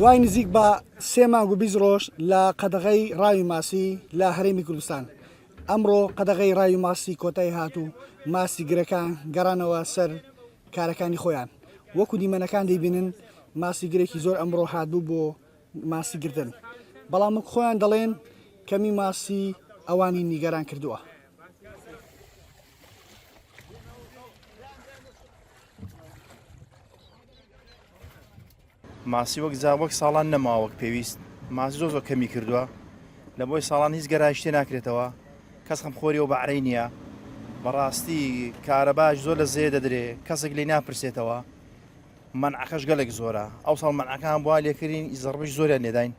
دوای نزیک بە سێ مانگ و بیست ڕۆژ لە قەدەغەی ڕاوی ماسی لە هەرێمی کوردستان ئەمڕۆ قەدەغەی ڕاوی ماستی کۆتای هات و ماستی گرەکان گەڕانەوە سەر کارەکانی خۆیان، وەکو دیمەنەکان دەیبینن ماستی گرێکی زۆر ئەمڕۆ هاتبوو بۆ ماستی گرتن، بەڵام وەک خۆیان دەڵێن کەمی ماستی ئەوانی نیگەران کردووە. ماسی وەک جا وەک ساڵان نەماوە وەک پێویست ماسی زۆ زۆ کەمی کردووە لە بۆی ساڵان هیچ گەرای شتێ ناکرێتەوە کەس خەم خۆری و بەعرەی نییە بەڕاستی کارەباش زۆر لە زێ دەدرێ کەسێک لی ناپرسێتەوە منعەکەش گەلێک زۆرە ئەو ساڵ منعەکان بوا لێکردین زڕبش زۆریان لێداین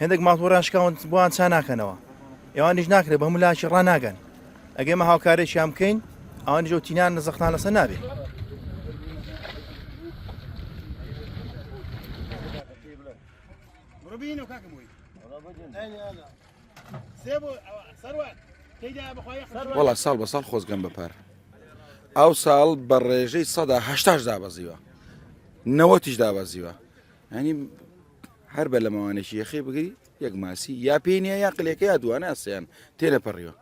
هێندێک ماڵپەڕیان شکاون بۆیان چا ناکەنەوە ئەوانیش ناکرێت بە هەموو لاکی ڕا ناگەن ئەگەی مە هاوکارێکیان بکەین ئەوان جۆ تینان لە زەختان لەسەر نابێت بینو کاکە بووی سێ بۆ سەروات وڵا ساڵ بە ساڵ خۆزگەم بەپار ئەو ساڵ بە ڕێژەی سەدا هشتاش دابەزیوە نەوەتیش دابەزیوە ینی هەر بە لەمەوانێکی یەخەی بگری یەک ماسی یا پێی نیە یا قلەکە یا دوانە ئەسیان تێنەپەڕیوە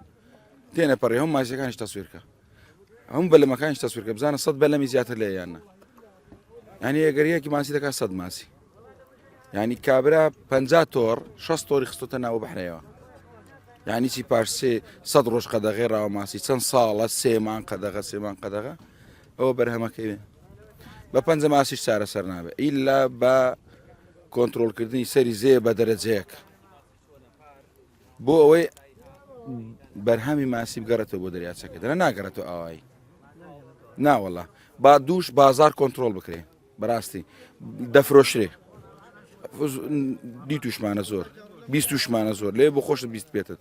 تێنەپەڕی هەم ماسیەکانش تەسویرکە هەم بە لەمەکانش تەسویرکە بزانە سەد بە لەمی زیاتر لە یاننا ینی ئەگەریەکی ماسی دەکات سەد ماسی ینی کابرا پ تۆڕ 6 تۆری خستۆتە ناوە بەحرەیەوە ینی چی پارسێ سەد ڕۆژ قەدەغێ ڕاوە ماسی چەند ساڵە سێمان قەدەغە سێمان قەدەغە ئەوە بەرهەمەکەوێ بە پەنجە ماسیش چارەسەر نابێت ئیلا بە کۆنتترۆلکردنی سەری زێ بە دەرەجەیەک بۆ ئەوەی بەرهەمی ماسی بگەڕێتەوە بۆ دەریاچەکە دەرە ناگەڕێتەوە ئاوایی ناوەڵە با دووش بازار کۆنتترۆل بکرێ بەڕاستی دەفرۆشرێ دی توشمانە زۆر بیست توشمانە زۆر لێ بۆ خۆشت بیست پێتت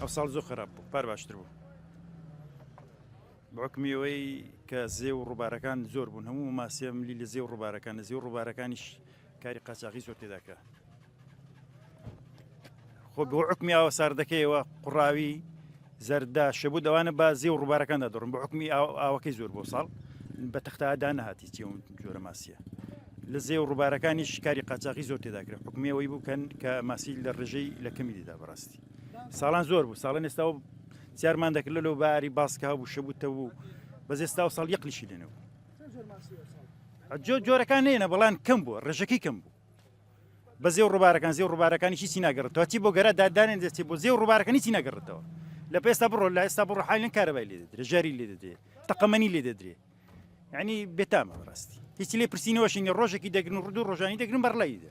ئەو ساڵ زۆر خراپ بوو پار باشتر بوو بەکمیەوەی کە زێ و ڕووبارەکان زۆر بوون هەموو ماسیە ملی لە زێ و ڕووبارەکان لە زێ و ڕووبارەکانیش کاری قاچاقی زۆر تێداکە خۆ بۆ حکمی ئاوە ساردەکەیەوە قوڕاوی زەردا شەبوو دەوانە بازی و ڕووبارەکاندا دەڕم بە حکمی ئاوەکەی زۆر بۆ ساڵ بە تەختادا نەهاتی چی جۆرە ماسیە لە زێ و ڕووبارەکانی شکاری قاچاقی زۆر تێداکرێت حکومیەوەی بکەن کە ماسی لە ڕژەی لە کەمی دیدا بەڕاستی ساڵان زۆر بوو ساڵن ئێستا و زیارمان دەکرد لەو باری باسکە بوو شەبووتە بوو بەس ئێستا و ساڵ یەقلیشی لێنەوە جۆرەکان نێنە بەڵان کەم بوو ڕژەکەی کەم بوو بە زێو ڕووبارەکان زێو ڕووبارەکانی هیچی ناگەڕێتەوە چی بۆ گەرا دادانێن دەستی بۆ زێو ڕووبارەکانی هیچی ناگەڕێتەوە لە پێستا بڕۆ لە ئێستا بڕۆ حالن کارەبای لێ دەدرێ ژاری لێ دەدرێ تەقەمەنی لێ دەدرێ ینی بێتامە ڕاستی هیچی لێ پرسینەوەشینی ڕۆژێکی دەگرن ڕدو ڕۆژانی دەگرن بەڕلایی دە